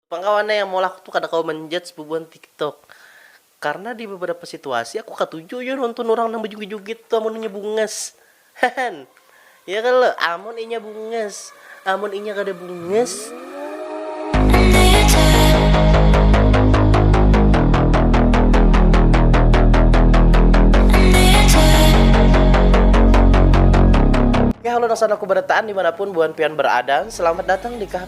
Pang kawan ai yang maulah aku tu kada kawa manjudge bubuhan tiktok. Karna di beberapa situasi aku katuju jua nonton urang nang bajugit-jugit tu amun inya bungas. Hahan. Ya kalo? Amun inya bungas. Amun inya kada bungas. Kalo nang sanak ku barataan dimanapun buhan pian baraadaan, selamat datang di kah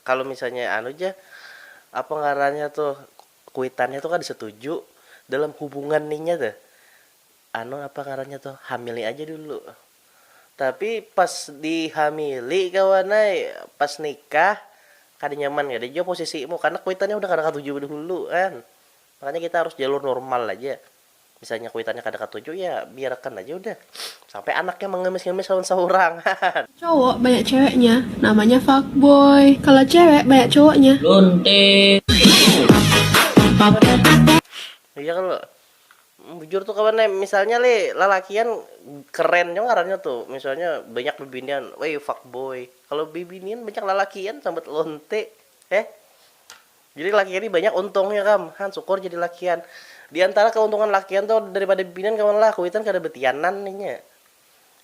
Kalo misalnya anu ja, apa ngarannya tuh, kuitannya tuh kada setuju dalam hubungan nih nya tuh, anu apa ngarannya tuh, hamili aja dulu. Tapi pas dihamili kawan ai, pas nikah kada nyaman kada jua posisimu karena kuitannya udah kada katuju dahulu kan. Makanya kita harus jalur normal aja. Misalnya kuitannya kada katuju ya biar akan aja udah sampai anaknya mengemis ngemis lawan seorang hahaha. Cowok banyak ceweknya namanya fuckboy kalo cewek banyak cowoknya lonte. Iya kalo bujur tuh kawan ai misalnya leh lalakian keren jua ngarannya tuh misalnya banyak bibinian woi fuckboy kalo bibinian banyak lalakian sambat lonte heh. Jadi lakian ni banyak untungnya kam, han sukur jadi lakian. Di antara keuntungan lakian tu dari pada bibinian kawan lah, kuitan kada betianan nih nya.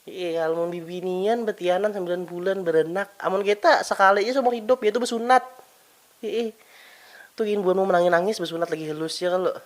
Iih amun bibinian betianan sembilan bulan beranak, amun kita sekali ja seumur hidup yaitu besunat. Iih tu gin buhanmu menangis nangis besunat lagi halus ja kalo.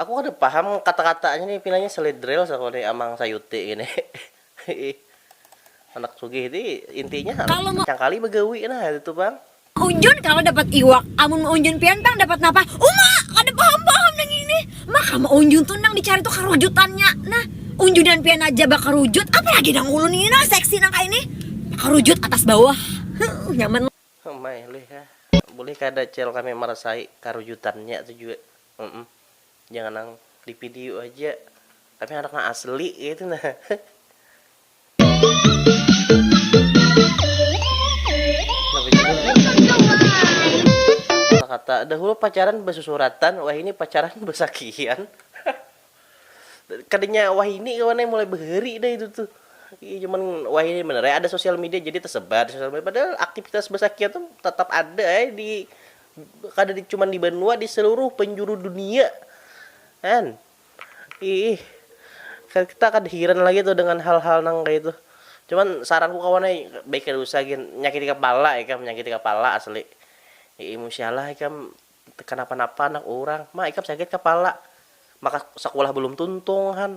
Aku kada paham kata-katanya nih pinanya seledrel saku nih amang sayuti gini iih anak sugih ti intinya Kalo me. Cangkali bagawi nah itu tu pang. Unjun kawa dapat iwak, amun meunjun pian pang dapat napa? Uma! Kada paham-paham nang ini. Maka meunjun tu nang dicari tu karujutannya. Nah, unjunan pian aja bakarujut, apalagi nang ulun ini nah seksi nang kaya ini. Bakarujut atas bawah. Huh, nyaman. Umai lih ah. Bulih kada cel kami marasai karujutannya tu jua. Humm jangan nang di video haja tapi handak nang asli kaitu nah. Kata dahulu pacaran basusuratan wahini pacaran basakian kadanya wahini kawan ai mulai bahari dah itu tuh iya cuman wahini banar ai ada sosial media jadi tesebar di sosial media padahal aktivitas basakian tuh tatap ada ai di. kada di cuman di banua di seluruh penjuru dunia kan iih kita kada hiran lagi tuh dengan hal hal nang kaya itu cuman saran ku kawan ai baik kada usah gin nyakiti kapala ikam nyakiti kapala asli iih musia lah ikam tekanapa napa anak urang ma ikam sakit kapala maka sakulah balum tuntung han.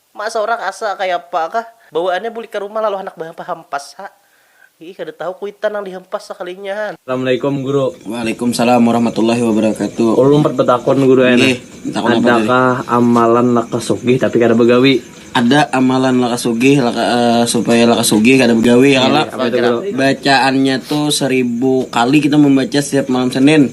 Mak saurang asa kayapa kah. Bawaannya bulik ka rumah lalu handak bahampas ha. Iih kada tahu kuitan nang dihampas sakalinya ha. Assalamualaikum guru. Waalaikumsalam warahmatullahi wabarakatuh. Ulun umpat batakun guru ai nah. Ada kah amalan lakas sugih tapi kada bagawi. Ada amalan lakas sugih supaya lakas sugih kada bagawi ya kalo. Apa itu guru. Bacaannya tu seribu kali kita membaca setiap malam senin.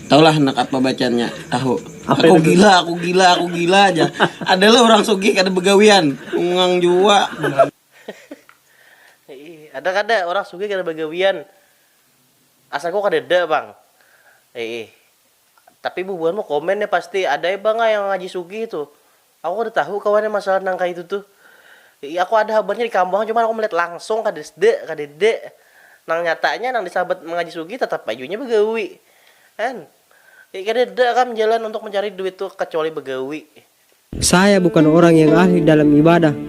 Tahu lah handak apa bacaannya tahu. Apa aku itu? gila, aku gila, aku gila aja. Adalah orang sugih kada begawian, ungang jua. Ada kada orang sugih kada begawian? Asa ku kadada pang. Iih. Tapi bubuhanmu komen ya pasti, ada ai pang yang ngaji sugih tu. Aku kada tahu kawan ya masalah nang kaya itu tuh. Iih aku ada habarnya di kampung cuman aku melihat langsung kadasda, kadada. Nang nyatanya nang disabat Mangaji Sugih tatap ai jua inya bagawi. Kan. Iih kadada kam jalan untuk mencari duit tuh kacuali bagawi. Saya bukan orang yang ahli dalam ibadah,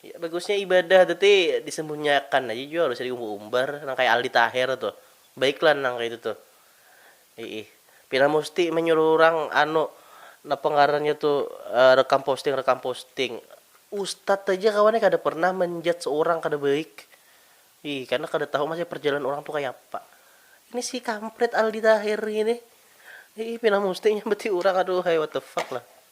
Ya bagusnya ibadah tu ti disemunyiakan aja jua gausah diumbar-umbar nang kaya Aldi Taher tu. Baiklah nang kaya itu tu. Iih. Pina musti manyuruh urang anu napa ngarannya tu rekam posting rekam posting. Ustad aja kawan ai kada pernah menjudge urang kada baik. Iih, karena kada tahu masih perjalanan urang tu kayapa. Ini si kampret Aldi Taher ini. Iih pina musti nyambati urang aduhai what the fuck lah.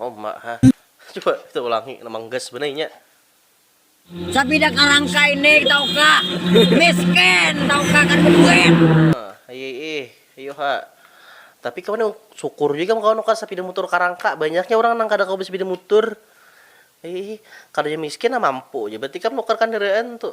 Homma ha. Coba kita ulangi nang gas banar inya. Sabida karangka ini tauka. Miskin tauka kada baduit. Nah, iya ih. Ayu ha. Tapi kawan nih syukur jua ikam kawan nukar sapida mutur karangka. Banyaknya urang nang kada kawa basapida mutur. Ayu ih. Kada jua miskin nah mampu ja berarti ikam nukar kandaraan tu.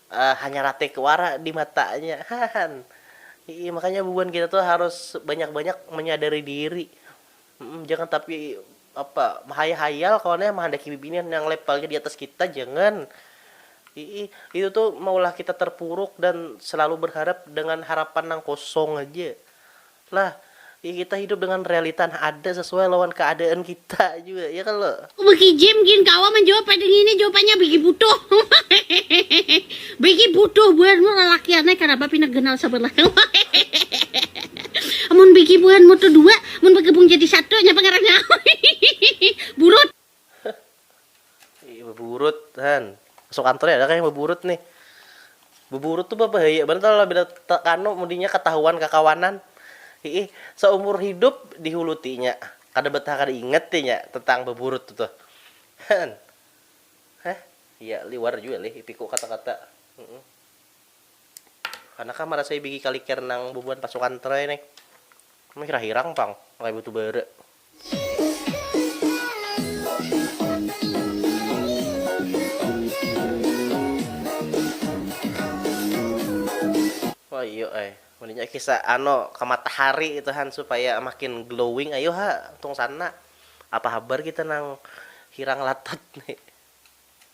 hanyar atik wara di matanya hahan iih makanya bubuhan kita tuh harus banyak banyak menyadari diri jangan tapi apa mahayal hayal kawan ya mahandaki bibinian yang levelnya di atas kita jangan iih itu tuh maulah kita terpuruk dan selalu berharap dengan harapan nang kosong haja Nah, ya kita hidup dengan realita nang ada sesuai lawan keadaan kita jua, ya kalo? Wiki Jim gin kawa manjawab pada ngini jawapannya bigi butuh bigi butuh buhanmu lalakian ai karaba pina ganal sabalah amun bigi buhanmu tu dua mun bagabung jadi satu nyapa ngarannya burut. Heh beburut han masuk kantor nih ada kah yang beburut nih beburut tuh babahaya banar kalo bila te kanu mun inya katahuan kakawanan hiih saumur hidup dihulu ti inya kada betah kada ingat ti inya tentang beburut tu tuh han heh iya liwar jua lih ipiku kata kata humm kana kah marasai bigi kaliker nang bubuhan pasukan tray nih mih rahirang pang kaya betu bara. Wayuh ai, waninya kisa ano ka matahari itu han supaya makin glowing ayu ha tung sana, apa habar kita nang hirang latat ni.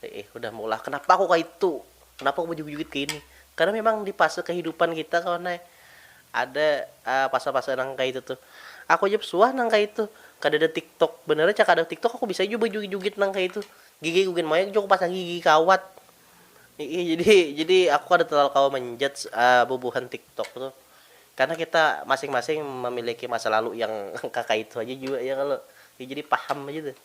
Iih udah meulah kenapa aku kaitu, kenapa aku bejugit-jugit kaini, karena memang di fase kehidupan kita kawan ai ada fase-fase nang kaitu tuh, aku haja suah nang kaitu kadada tiktok, benarnya cak kada tiktok aku bisa jua bejugit-jugit nang kaitu, gigi aku gin mayak jua aku pasang gigi kawat, iih jadi jadi aku kada terlalu kawa menjudge bubuhan tiktok tuh, karena kita masing-masing memiliki masa lalu yang kakaitu haja jua ya kalo, jadi paham haja tuh.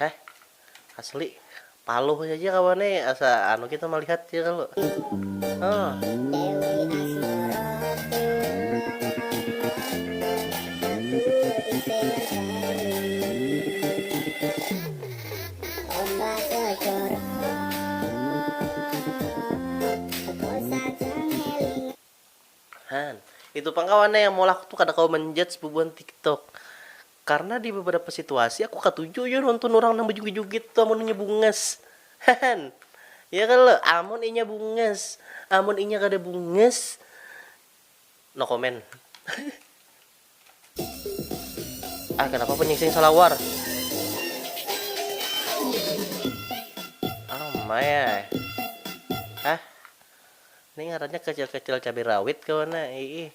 Heh. Asli. Paluh saja kawan ne asa anu kita malihat ja kalu. Nah. Itu pang kawan ne yang maulah aku tu kada kawa manjudge bubuhan tiktok. Karna di beberapa situasi aku katuju jua nonton urang nang bejugit-jugit tu amun inya bungas. Hahan. Ya kalo? Amun inya bungas. Amun inya kada bungas, no comment. Ah kenapa penyingsing salawar. Oh my ai. Hah. Ni ngarannya kecil-kecil cabai rawit kah wana? Iih.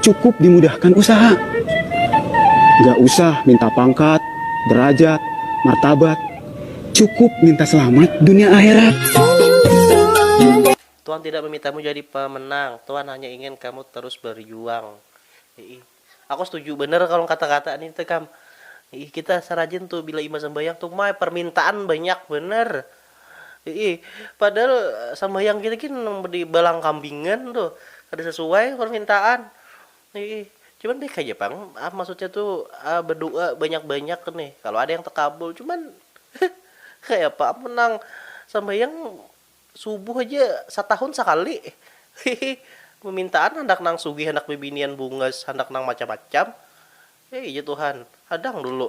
cukup dimudahkan usaha. Nggak usah minta pangkat, derajat, martabat, cukup minta selamat dunia akhirat. Tuhan tidak memintamu jadi pemenang, Tuhan hanya ingin kamu terus berjuang. Ih, aku setuju bener kalau kata-kata ini tuh kam. Ih, kita serajin tuh bila imbah sembahyang tuh mai permintaan banyak bener. Iih, padahal sambahyang kita gin nang di balang kambingan tuh, kada sasuai parmintaan. Iih, cuman baik haja pang, maksudnya tuh badu'a banyak-banyak nih, kalo ada yang takabul. Cuman kayapa am nang sambahyang subuh haja satahun sakali. Iih, pamintaan handak nang sugih, handak bibinian bungas, handak nang macam-macam. Iih, ya tuhan, hadang dulu.